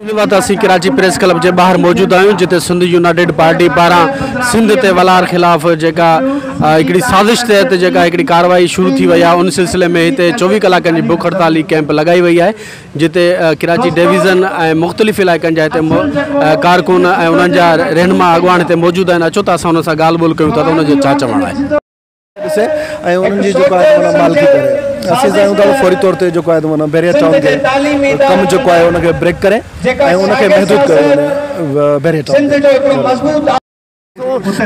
ان وقت اسين Karachi press club جي ٻاهر موجود آهيون جتي سنڌ يونائيٽيڊ پارٽي پاران سنڌ تي ولار خلاف جيڪا هڪڙي سازش تحت جيڪا هڪڙي ڪارروائي شروع ٿي وئي آهي ان سلسلي ۾ هتي چوويهه ڪلاڪن جي بک هڙتال جي ڪيمپ لڳائي وئي آهي جتي ڪراچي ڊويزن ۽ مختلف علائقن جا هتي ڪارڪن ۽ انهن جا رهنما اڳواڻ هتي موجود آهن اچو ته اسان انهن سان ڳالهه ٻولهه ڪيون ٿا ته انهن جو ڇا چوڻ آهي ڏسي ۽ انهن جي جيڪو آهي تمنا مالڪي ڪري اسين چاهيون ٿا ته فوري طور تي جيڪو آهي تمنا بحريه ٽائون جي ڪم جيڪو آهي ان کي بريڪ ڪري ۽ ان کي محدود ڪيو وڃي بحريه ٽائون تي.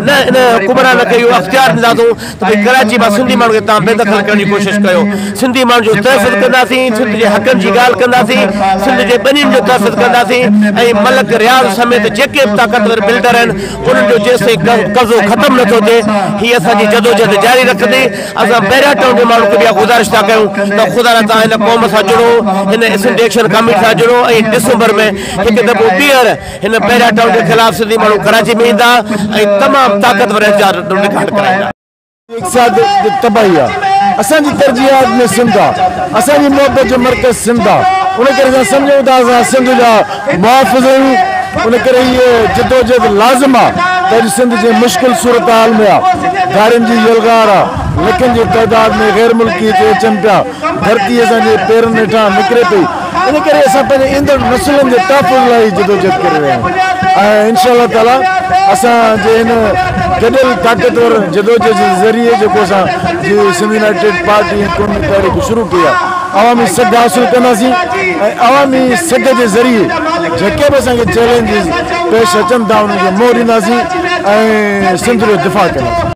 نه ان حڪمران کي اهو اختيار ڏينداسون ته ڀئي ڪراچي مان سنڌي ماڻهن کي توهان بي دخل ڪرڻ جي ڪوشش ڪيو سنڌي ماڻهن جو تحفظ ڪنداسين سنڌ جي حقن جي ڳالهه ڪنداسين سنڌ جي ٻنين جو تحفظ ڪنداسين ۽ ملڪ رياض سميت جيڪي به طاقتور بلڊر آهن انهن جو جيستائين قبضو ختم نه ٿو ٿئي، هي اسان جي جدوجهد جاري رکندي. اسان بحيره ٽائون جي ماڻهن کي به اها گذارش ٿا ڪيون ته خدا را توهان هن قوم سان جڙو، هن اسنٽ ايڪشن ڪاميٽي سان جڙو ۽ ڊسمبر ۾ هڪ دفعو ٻيهر هن بحيره ٽائون جي خلاف سنڌي ماڻهو ڪراچي ۾ ايندا ۽ تمام طاقتور احتجاج رڪارڊ ڪرائيندا. اقتصاد جي تباهي آ. اسان جي ترجيحات ۾ سنڌ آ. اسان جي محبت جو مرڪز سنڌ آ. ان ڪري اسان سمجهون ٿا ته اسان سنڌ جا محافظ آهيون. ان ڪري هيء جدوجهد لازم آ ته اڄ سنڌ جنهن مشڪل صورتحال ۾ آ، گارين جي يلغار آ، لکن جي تعداد ۾ غير ملڪي هتي اچن پيا، ڌرتي اسان جي پيرن هيٺان نڪري پئي ان ڪري اسان پنهنجي ايندڙ نسلن جي تحفظ لاء هي جدوجهد ڪري رهيا آهيون ۽ انشاء الله تعاليٰ اسان جي هن گڏيل طاقتور جدوجهد جي ذريعي جيڪو اسان جي سنڌ يونائيٽيڊ پارٽي ۽ قومي تحريڪ شروع ڪئي آهي عوامي سگهه حاصل ڪنداسين ۽ عوامي سگهه جي ذريعي جيڪي به اسان کي چئلينجز پيش اچن ٿا انهن کي منهن ڏينداسين ۽ سنڌ جو دفاع ڪنداسين.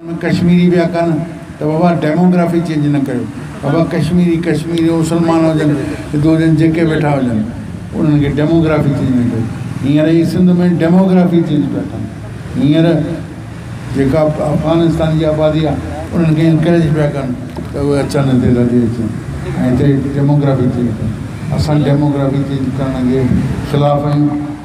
ان ڪشميري پيا ڪن ته بابا ڊيموگرافي چينج نه ڪيو بابا ڪشميري ڪشميري مسلمان هجن هندو هجن جيڪي ويٺا هجن انهن کي ڊيموگرافي چينج نه ڪيو هينئر هي سنڌ ۾ ڊيموگرافي چينج پيا ڪن هينئر جيڪا افغانستان جي آبادي آ انهن کي انڪريج پيا ڪن ته اهي اچن هتي رهجي اچن ۽ هتي ڊيموگرافي چينج ڪن اسان ڊيموگرافي چينج ڪرڻ جي خلاف آهيون.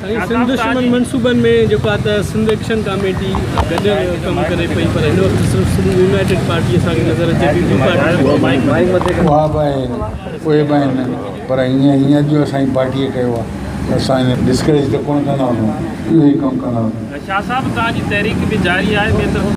سائين سنڌ دشمن منصوبن ۾ جيڪو آ ته سنڌ ايڪشن ڪاميٽي گڏيل ڪم ڪري پئي پر هن وقت صرف سنڌ يونائيٽيڊ پارٽي اسان کي نظر اچي ٿي ٻي پارٽي اها به آهي اهي به آهن پر هينئر هينئر جو اسان جي پارٽيء ڪيو آ ته اسان هن ڊسڪريج ته ڪونه ڪندا هئسون اهو ئي ڪم ڪندا هئسون. شاهه صاحب توهان جي تحريڪ به جاري آهي ٻئي طرف.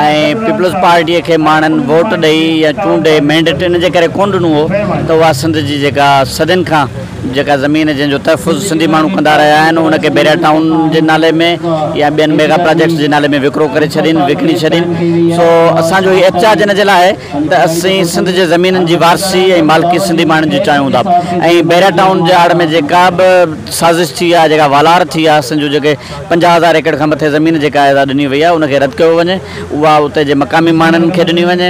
۽ پيپلز پارٽيء کي ماڻهن ووٽ ڏئي يا چونڊي مينڊيٽ ان جي ڪري ڪونه ڏنو هو ته اها سنڌ جي جيڪا صدين کان جيڪا زمين جنهن جو تحفظ سنڌي ماڻهو ڪندا رهيا آهن ان کي بيريا ٽائون جي نالي ۾ يا ٻين ميگا پراجيڪٽس جي نالي ۾ وڪرو ڪري ڇڏين وڪڻي ڇڏين سو اسان جو هي احتجاج ان جي لاء آهي ته اسين سنڌ جي زمينن جي وارثي ۽ مالڪي سنڌي ماڻهن جي چاهيون ٿا ۽ بيريا ٽائون جي آڙ ۾ جيڪا به سازش ٿي آهي جيڪا والار ٿي آهي اسان جو جيڪي پنجاهه هزار ايڪڙ کان مٿي زمين جيڪا اعزاز ڏني وئي آهي ان کي رد ڪيو وڃي اها اتي جي مقامي ماڻهن کي ڏني وڃي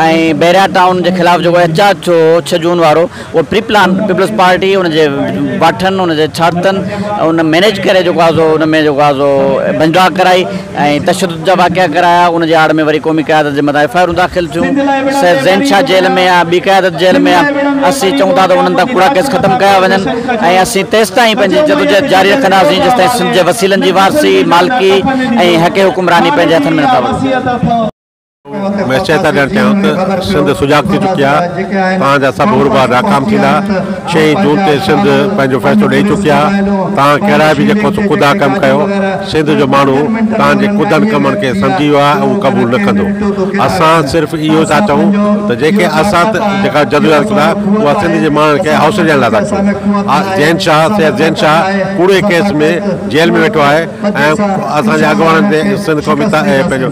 ۽ بحريا ٽائون جي خلاف جيڪو احتجاج ٿيو هو ڇهه جون وارو اهو پري پلان پيپلز پارٽي ان جي باٺن ان جي ڇاڪتن ان مينيج ڪري جيڪو آهي سو ان ۾ جيڪو آهي سو ڀڃ ڊاڪ ڪرائي ۽ تشدد جا واقعا ڪرايا ان جي آڙ ۾ وري قومي قيادت جي مٿان ايف آء آرون داخل ٿيون سيد زين شاهه جيل ۾ آ ٻي قيادت جيل ۾ آ اسين چئون ٿا ته انهن تان ڪوڙا ڪيس ختم ڪيا وڃن ۽ اسين تيستائين پنهنجي جدوجهد جاري رکنداسين جيستائين سنڌ جي وسيلن جي وارثي مالڪي ۽ حق حڪمراني پنهنجي هٿن ۾ نٿا وٺون. مير شهداد ڄڻ چيائون ته سنڌ سجاڳ ٿي چڪي آهي، توهان جا سڀ هوربار ناڪام ٿيندا، ڇهين جون تي سنڌ پنهنجو فيصلو ڏئي چڪي آهي، توهان ڪهڙا به جيڪو ڪڌا ڪم ڪيو، سنڌ جو ماڻهو توهان جي ڪڌن ڪمن کي سمجهي ويو آهي ۽ اهو قبول نه ڪندو، اسان صرف اهو ٿا چئون ته جيڪي اسان جيڪا جدوجهد ڪئي آهي اها سنڌ جي ماڻهن کي حوصلي ڏيڻ لاء ٿا ڪيون، زين شاهه سيد زين شاهه ڪوڙي ڪيس ۾ جيل ۾ ويٺو آهي ۽ اسان جي اڳواڻن تي سنڌ قومي پنهنجو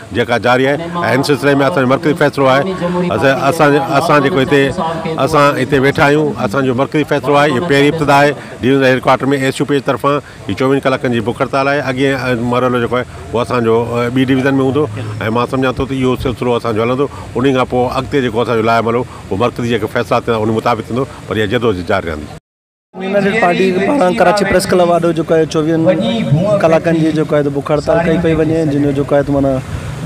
جيڪا جاري آهي ۽ ان سلسلي ۾ اسان جو مرڪزي فيصلو آهي اسان اسان جيڪو هتي اسان هتي ويٺا آهيون اسان جو مرڪزي فيصلو آهي هي پهرين ابتدا آهي divisional headquarter ۾ S U P جي طرفان هي چوويهن ڪلاڪن جي بک هڙتال آهي اڳي مرحلو جيڪو آهي اهو اسان جو ٻي ڊويزن ۾ هوندو ۽ مان سمجهان ٿو ته اهو سلسلو اسان جو هلندو انهي کان پوء اڳتي جيڪو اسان جو لاء عمل هو اهو مرڪزي جيڪي فيصلا ٿيندا انهي مطابق ٿيندو پر اها جدوجھد جاري رهندي. يونائيٽيڊ پارٽي پاران ڪراچي پريس ڪلب آڏو جيڪو آهي چوويهن ڪلاڪن جي جيڪو آهي بک هڙتال ڪئي پئي وڃي جنهن جو جيڪو آهي ته معنيٰ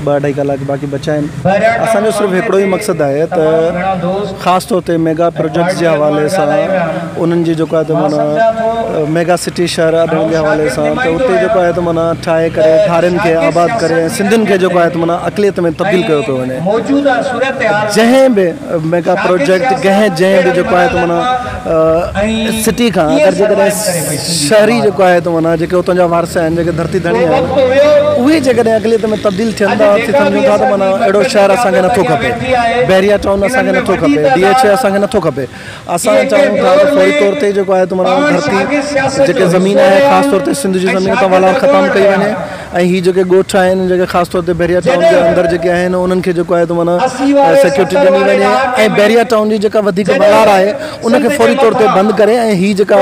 ٻه اڍائي ڪلاڪ باقي بچيا آهن اسان جو صرف هڪڙو ئي مقصد آهي ته خاص طور تي ميگا پروجيڪٽس جي حوالي سان انهن جي جيڪو آهي ته معنيٰ ميگا سٽي شهر آڏڻ جي حوالي سان ته اتي جيڪو آهي ته معنيٰ ٺاهي ڪري ڌارين کي آباد ڪري ۽ سنڌين کي جيڪو آهي ته معنيٰ اقليت ۾ تبديل ڪيو پيو وڃي جنهن به ميگا پروجيڪٽ جنهن جنهن به جيڪو آهي ته معنيٰ سٽي کان اگر جيڪڏهن شهري جيڪو آهي تو معنيٰ جيڪي اتان جا وارث آهن جيڪي ڌرتي ڌڻي آهن اهي جيڪڏهن اقليت ۾ تبديل ٿين ٿا ٿي سمجهون ٿا ته معنيٰ اهڙو شهر اسان کي نٿو کپي بحريا ٽائون اسان کي نٿو کپي ڊي ايڇ اي اسان کي نٿو کپي اسان چاهيون ٿا ته فوري طور تي جيڪو آهي تو معنيٰ ڌرتي جيڪي زمين آهي خاص طور تي سنڌ جي زمين اتان والار ختم ڪئي وڃي ۽ هي جيڪي ڳوٺ آهن جيڪي خاص طور تي بحريا ٽائون جي اندر جيڪي آهن انهن کي جيڪو آهي معنيٰ سيڪيورٽي ڏني وڃي ۽ بحريا ٽائون جي جيڪا وڌيڪ ٻهار آهي ان کي فوري طور تي بند ڪري ۽ هي جيڪا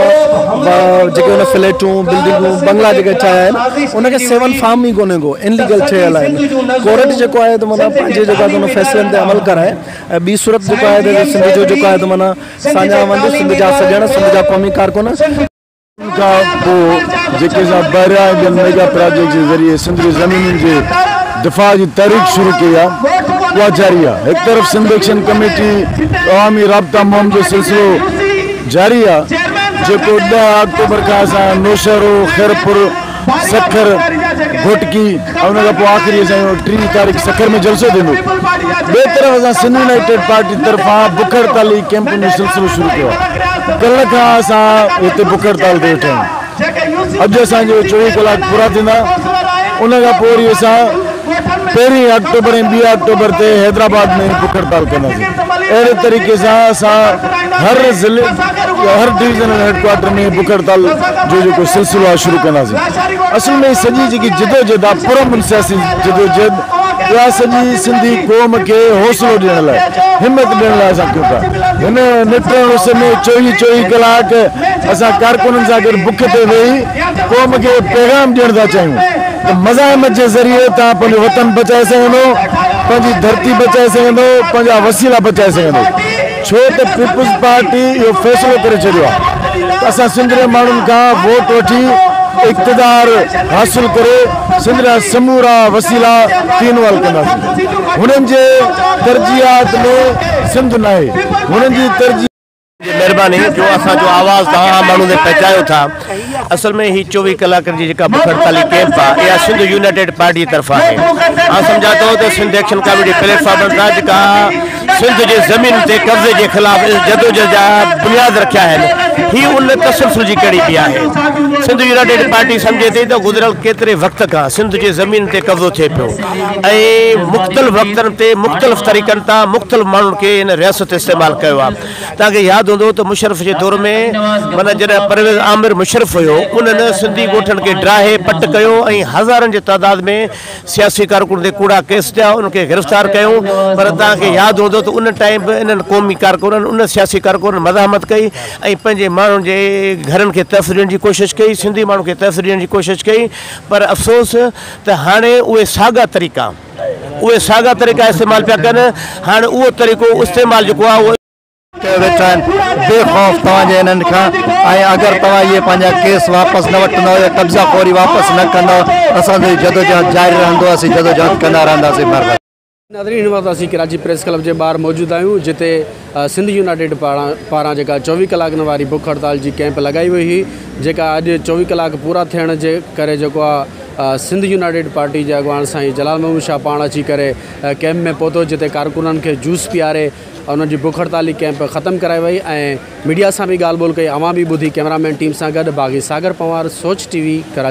جيڪي ان فليٽون بلڊنگون بنگلا جيڪي ٺاهيا آهن ان کي سيون فارم ئي ڪونهي ڪو ان ليگل ٺهيل آهن ڪورٽ جيڪو آهي معنيٰ پنهنجي جيڪا ان فيصلن تي عمل ڪرائي ۽ ٻي صورت جيڪو آهي سنڌ جو جيڪو آهي معنيٰ ساڃاهه وند سنڌ جا سڄڻ سنڌ جا قومي ڪارڪن ان کان پوء جيڪي اسان بحريه ۽ ٻين ميگا پراجيڪٽس جي ذريعي سنڌ جي زمينن جي دفاع جي تحريڪ شروع ڪئي آهي اها جاري آهي هڪ طرف سنڌ ايڪشن ڪميٽي عوامي رابطا مهم جو سلسلو جاري آهي جيڪو ڏهه آڪٽوبر کان اسان نوشهرو، خيرپور، سکر، گهوٽڪي ۽ ان کان پوء آخري اسان جو ٽيهه تاريخ سکر ۾ جلسو ٿيندو. ٻئي طرف اسان سنڌ يونائيٽيڊ پارٽي طرفان بک هڙتالي ڪيمپن جو سلسلو شروع ڪيو آهي. ڪلهه کان اسان هتي بک هڙتال تي ويٺا آهيون. اڄ اسان جا چوويهه ڪلاڪ پورا ٿيندا ان کان پوء وري اسان پهرين آڪٽوبر ۽ ٻي آڪٽوبر تي حيدرآباد ۾ بک هڙتال ڪنداسين، اهڙي طريقي سان اسان هر ضلعي يا هر ڊويزنل هيڊ ڪوارٽر ۾ بک هڙتال جو جيڪو سلسلو آهي شروع ڪنداسين، اصل ۾ هي سڄي جيڪي جدوجهد آهي پرامن سياسي جدوجهد اها سڄي سنڌي قوم کي حوصلو ڏيڻ لاء همت ڏيڻ لاء اسان ڪيون ٿا، هن نٽرن اس ۾ چوويهه چوويهه ڪلاڪ اسان ڪارڪنن سان گڏ بک تي ويهي قوم کي پيغام ڏيڻ ٿا چاهيون. ته مزاحمت جي ذريعي تان پنهنجو وطن بچائي سگهندو، پنهنجي ڌرتي بچائي سگهندو، پنهنجا وسيلا بچائي سگهندو، ڇو ته پيپلز پارٽي اهو فيصلو ڪري ڇڏيو آهي ته اسان سنڌ ري ماڻهن کان ووٽ وٺي اقتدار حاصل ڪري سنڌ جا سمورا وسيلا تينول ڪنداسين، هنن جي ترجيحات ۾ سنڌ ناهي، هنن جي ترجيحات. جي مهرباني جو اسان جو آواز توهان عام ماڻهن تائين پهچايو ٿا اصل ۾ هي چوويهه ڪلاڪن جي جيڪا بک هڙتالي ڪئمپ آهي اها سنڌ يونائيٽيڊ پارٽي جي طرفان آهي آئون سمجهان ٿو ته سنڌ ايڪشن ڪاميٽي پليٽ فارمن تان جيڪا سنڌ جي زمين تي قبضي جي خلاف جدوجهد جا بنياد رکيا آهن هي ان تسلسل جي ڪڙي به آهي سنڌ يونائيٽيڊ پارٽي سمجهي ٿي ته گذريل ڪيتري وقت کان سنڌ جي زمين تي قبضو ٿئي پيو ۽ مختلف وقتن تي مختلف طريقن تان مختلف ماڻهن کي ان رياست استعمال ڪيو آهي توهان کي ياد هوندو ته مشرف جي دور ۾ معنيٰ جڏهن پرويز عامر مشرف هيو انهن سنڌي ڳوٺن کي ڊاهي پٽ ڪيو ۽ هزارن جي تعداد ۾ سياسي ڪارڪنن تي ڪوڙا ڪيس ٿيا انهن کي گرفتار ڪيو پر توهان کي ياد هوندو ته ان ٽائيم به انهن قومي ڪارڪنن ان سياسي ڪارڪنن مزاحمت ڪئي ۽ پنهنجي ماڻهن جي گهرن کي تحفظ ڏيڻ جي ڪوشش ڪئي سنڌي ماڻهن کي تحفظ ڏيڻ جي ڪوشش ڪئي پر افسوس ته هاڻي اهي ساڳا طريقا اهي ساڳا طريقا استعمال پيا ڪن هاڻي اهو طريقو استعمال جيڪو آهي اهو. ڪيو ويٺا آهن بي خوف توهان جي انهن کان ۽ اگر توهان اهي پنهنجا ڪيس واپس نه وٺندؤ يا قبضا خوري واپس نه ڪندؤ ته اسان جو هي جدوجهد جاري رهندو اسين جدوجهد ڪندا رهنداسين مهرباني. ناظرين هن وقت اسين ڪراچي پريس ڪلب جي ٻاهر موجود آهيون جتي سنڌ يونائيٽيڊ پاران جيڪا چوويهه ڪلاڪن واري بک هڙتال جي ڪيمپ لڳائي وئي هئي جيڪا اڄ چوويهه ڪلاڪ پورا ٿيڻ جي ڪري جيڪو آهي سنڌ يونائيٽيڊ پارٽي جي اڳواڻ سائين جلال محمود شاهه پاڻ اچي ڪري ڪيمپ ۾ پهتو جتي ڪارڪنن کي جوس پياري انهن جي بک هڙتالي ڪيمپ ختم ڪرائي وئي ۽ ميڊيا سان به ڳالهه ٻولهه ڪئي اوهان به ٻڌي ڪيمرا مين ٽيم سان گڏ باغي ساگر پنوار سوچ ٽي وي ڪراچي